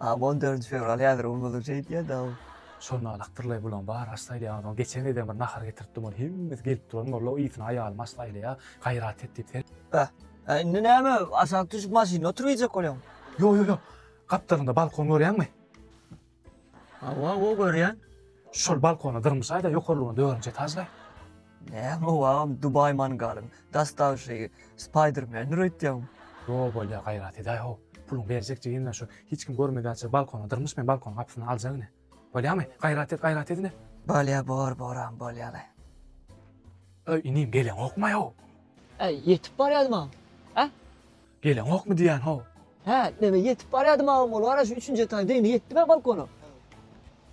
Aa on dördünji fewral häzir bolmazlyk eýdýädaw. Şol nalakdyrlaý bulaň bar aç saýlaýaňyz ony geçen gezem bir nahar getiripdim ony hemmesi gelip duran molla ysyna aýalym aç saýlaýa gaýrat et diýip sen Bäh. Hä indi näme aşak düşüp maşynda oturyp iýjek bolýaň. Ýok ýok ýok gapdalynda balkon görýäňmi. Hawa hawa görýän. Şol balkona dyrmyşaýda ýokarlygyna dördünji etaždaý. Näme wagam Dubai mangalyň dastawyşygy Spidermandir öýtýäň. Ýo bolýa gaýrat edäý how puluň berjek jigimden şu hiç kim görmedäçe balkona dyrmyş men balkonyň gapysyny aljak ine bolýamy gaýrat et gaýrat et ine. Bolýa bor boram bolýaly. Öý inim geleňokmaý how. Äý ýetip barýadyma hä. Geleňokmy diýýän how. Hä neme ýetip barýadymam bol wara şu üçünji etaý degni ýetdimä balkona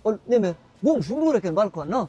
ol neme goňşym dur eken balkonda